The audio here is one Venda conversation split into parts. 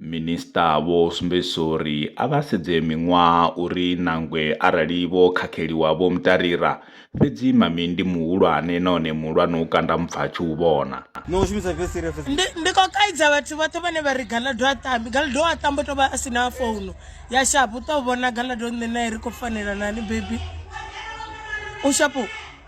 Minisiṱa vho sumbedzisa uri a vha sedze miṅwaha uri nangwe arali vho khakheliwa vho mu tarira, fhedzi Mami ndi muhulwane nahone muhulwane u kanda mupfa a tshi u vhona. Ndi, ndi khou kaidza vhathu vhoṱhe vhane vha ri Galaḓo ha tambi. Galaḓo u a tamba, u tou vha a si na founu ya sharp. U tou vhona Galaḓo nṋe nae ri khou fanelana hani bebi? U sharp.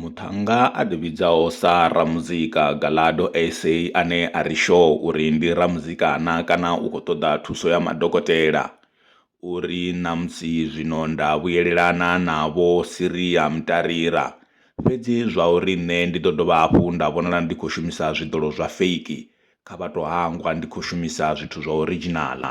Muṱhannga a ḓivhidzaho sa ramuzika Galado SA ane a ri shoo uri ndi ramuzika-na kana u khou ṱoḓa thuso ya madokotela, u ri, Ṋamusi zwino nda vhuyelelana na Vho Siria Mtarira, fhedzi zwauri nṋe ndi ḓo dovha hafhu nda vhonala ndi khou shumisa zwiḓolo zwa feiki, kha vha tou hangwa ndi khou shumisa zwithu zwa orijinaḽa.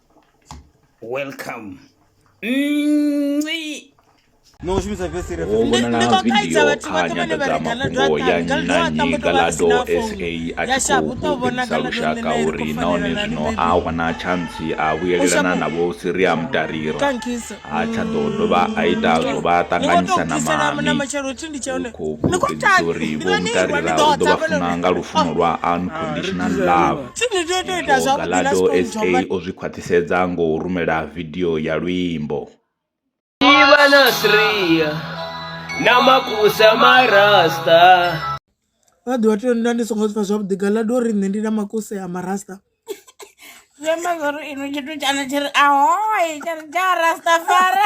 welcome Nci. no u shumisa vesi re Ho vhonala vidio kha nyanḓadzamafhungo ya nnyi na nnyi galado sa a tshi khou gudisa lushaka uri nahone zwino a wana tshantsi a vhuyelelana navho siriam tariro ha tsha ḓo dovha a ita zwo vha ṱanganyisa na mami khou fhulufhedzisa uri vho mutarira u ḓo vha funa nga lufuno lwa unconditional love galado sa o zwi khwaṱhisedza ngo rumela vidio ya luimbo Iva na Sriya na makusa marasta vha ḓo vha tea nda ndi songo zwipfa zwavhuḓi gala do ri nṋe ndi na makuse a marasta zwi amba zwori inwe tshithu tshana tshi ri ahoi tsha ri tsha rastafara